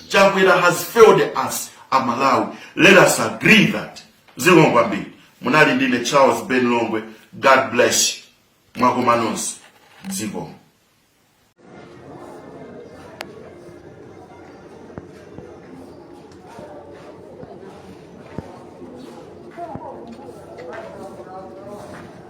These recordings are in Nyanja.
chakwera has failed us amalawi let us agree that zikomo kwambiri munali ndine charles ben longwe god bless you mwakoma nonse zikomo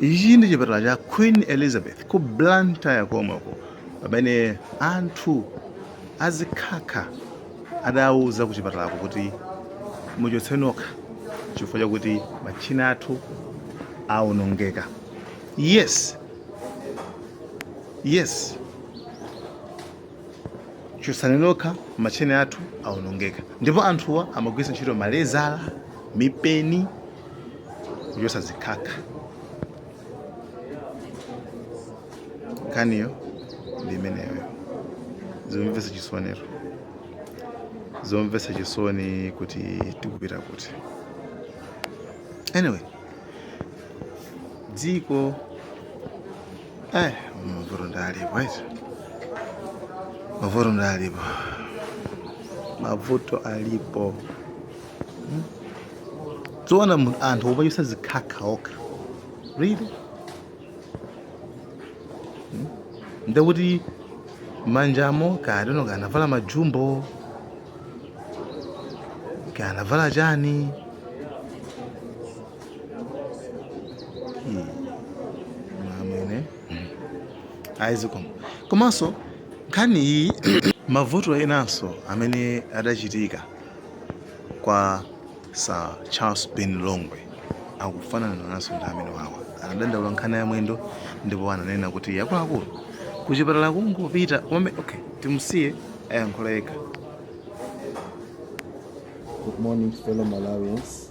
ichi ndi chipatala cha queen elizabeth ku blantyre komweko pamene anthu azikhakha adawuza ku chipatalako kuti muchotse nokha chifukwa chakuti matchina athu awonongeka yes yes chotsani nokha matchini athu awonongeka ndipo anthuwa amagwiritsa ntchito malezala mipeni kuchotsa zikhakha nkhaniyo ndi imeneyo zomvetsa chisonero zomvetsa chisoni kuti tikupita kuti anyway dziko Eh, mavuto ndi alipo eti. Mavuto ndi alipo. Mavuto alipo. Hmm? Zoona anthu omachotsa zikhakha okha. Really? Hmm? Ndekuti manjamo akadatero kanavala majumbo kanavala chani Hmm. amwene ayi zikomo komanso nkhani iyi mavuto enanso amene adachitika kwa sir charles ben longwe akufanana nanso ndi amene awawa anadandaula nkhani ya mwendo ndipo ananena kuti akuluakulu kuchipatala kungopita komwe okay timusiye ayankhula yekha Good morning, fellow Malawians.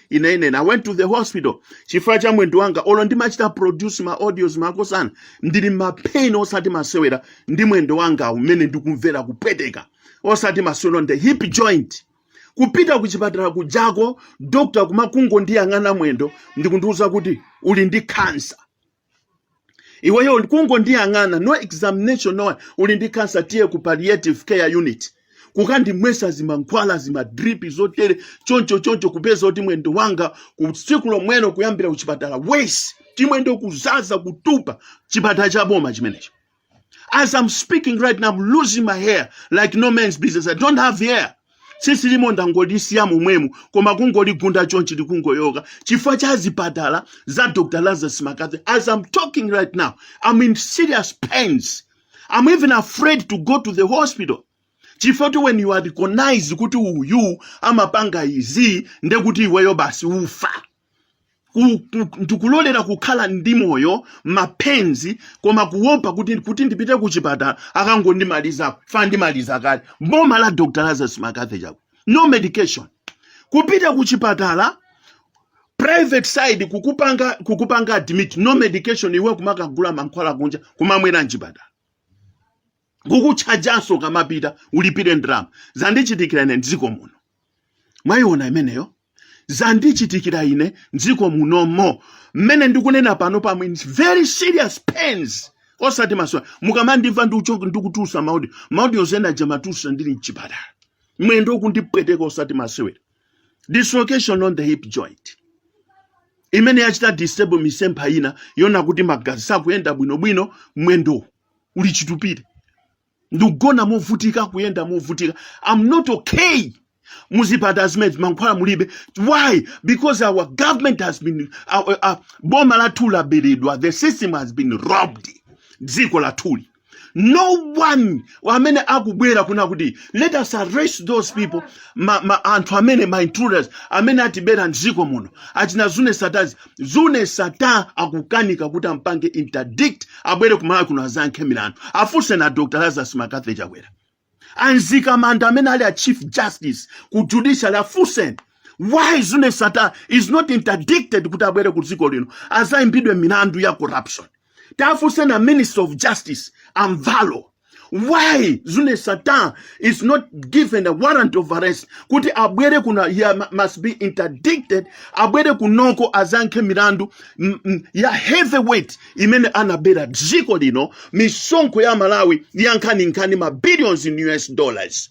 ine ine i went to the hospital chifukwa cha mwendo wanga olo ndimachita produce ma audios makosana ndili ma pain osati masewera ndi mwendo wanga umene ndikumvera kupweteka osati masewera nde hip joint kupita ku chipatala kujako dokta kumakungondiyang'ana mwendo ndikundiuza kuti uli ndi kansa iweyo kungondiyang'ana no examination no what uli ndi cancer tiye ku palliative care unit kukandimwesa zimankhwala zimadripi zotere choncho choncho kupeza kuti mwendo wanga kutsiku lomwelo kuyambira kuchipatala worse chimwendo kuzaza kutupa chipatala cha boma chimenecho As I'm speaking right now, I'm losing my hair like no man's business. I don't have hair. Tsitsi lilimo ndangolisiya momwemo koma kungoligunda chonchi likungoyoka chifukwa cha zipatala za Dr. Lazarus McCarthy. As I'm talking right now, I'm in serious pains. I'm even afraid to go to the hospital. chifukwa when you are recognized kuti uyu amapanga izi ndekuti iweyo basi ufa ndikulolera kukhala ndi moyo ma pains koma kuopa kuti ndipite ku chipatala akangondimaliza paja andimaliza kale boma la dr lazarus mccarthy chakwera no medication kupita ku chipatala private side kukupanga kukupanga admit no medication iwe kumakagula mankhwala kunja kumamwera mchipatala kukuchajanso pomapita ulipire ndalama zandichitikira ine mdziko muno Mwayiona imeneyo? Zandichitikira ine m'dziko munomo mmene ndikunena pano am in very serious pains osati masewera mukamandimva ndikucho- ndikutulutsa ma audi ma audio enaake ndimatulutsa ndili mchipatala mwendo kundipweteka osati masewera dislocation on the hip joint imene yachita disable misempha ina yonse kuti magazi sakuyenda bwinobwino mwendo uli chitupire ndikugona movutika kuyenda movutika am not okay muzipatala zimenezi mankhwala mulibe why because our government has been our, uh, boma lathu laberedwa the system has been robbed dziko lathuli, no one amene akubwera kunena kuti let us arrest those people ma, ma, anthu amene ma intruders amene atibera mdziko muno achina zuneth sattar zuneth sattar akukanika kuti ampange interdict abwere kumalawi kuno adzayankhe milandu afunseni a dr lazarus mccarthy chakwera a mzikamanda amene ali a chief justice ku judicial afunseni why zuneth sattar is not interdicted kuti abwere ku dziko lino adzayimbidwe milandu ya corruption taafunseni a minister of justice a mvalo why zuneth sattar is not given a warrant of arrest kuti abwere kuno he must be interdicted abwere kunoko adzayankhe milandu ya heavyweight imene anabera dziko lino misonkho ya amalawi yankhaninkani ma billions in us dollars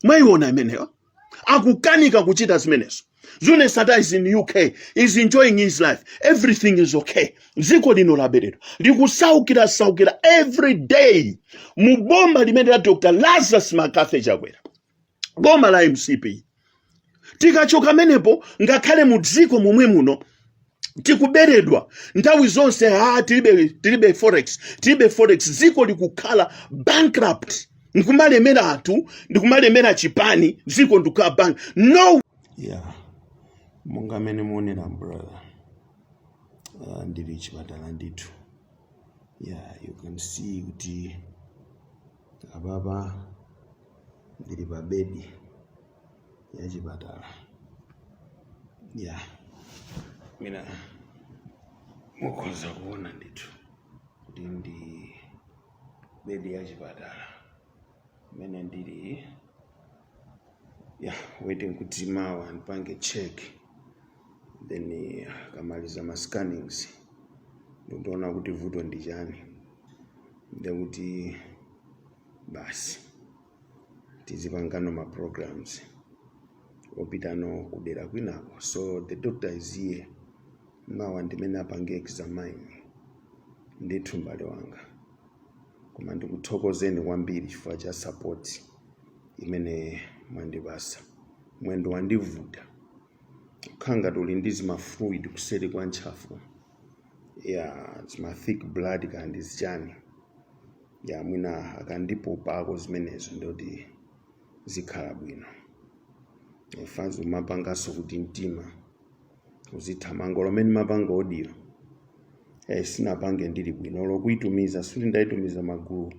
mwayiona imeneyo akukanika kuchita zimenezo zuneth sattar is in uk is enjoying his life everything is okay dziko lino laberedwa likusaukira saukira every day mu boma limeneli la dr lazarus mccarthy chakwera boma la mcp tikachoka pamenepo ngakhale mu dziko momwe muno tikuberedwa nthawi zonse ha tilibe tilibe forex tilibe forex dziko likukhala bankrupt ndikumalemera anthu ndikumalemera chipani dziko ndikukhala bank no yeah monga mmene muonera brother uh, ndili chipatala ndithu yeah you can see kuti apapa ndili pa bedi ya chipatala yeah mwina mukhoza kuona ndithu kuti ndi bedi ya chipatala imene ndili ya waiting kuti mawa ndipange check then eh, akamaliza ma scannings ndikuwona kuti vuto ndi chani ndekuti basi tizipangano ma programs opitano kudera kwinako so the doctor is here mawa ndimene apange examine ndithu m'bale wanga koma ndikuthokozeni kwambiri chifukwa cha support imene mwandipasa mwendo wandivuta kukhala ngati uli ndi zimafluid kuseri kwa ntchafu yeah zima thick blood kaya ndi zichani yeah mwina akandipopako zimenezo ndoti zikhala bwino fanzi zimapanganso kuti mtima uzithamanga olo mmene ndimapanga audio eh, sinapange ndili bwino olo kuitumiza suti ndaitumiza magulu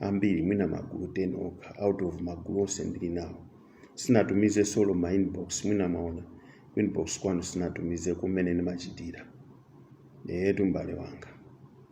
ambiri mwina magulu 10 okha out of magulu onse ndili nawo sinatumize solo ma inbox mwina maona ku inbox kwanu sinatumize kumene ndimachitira yetu m'bale wanga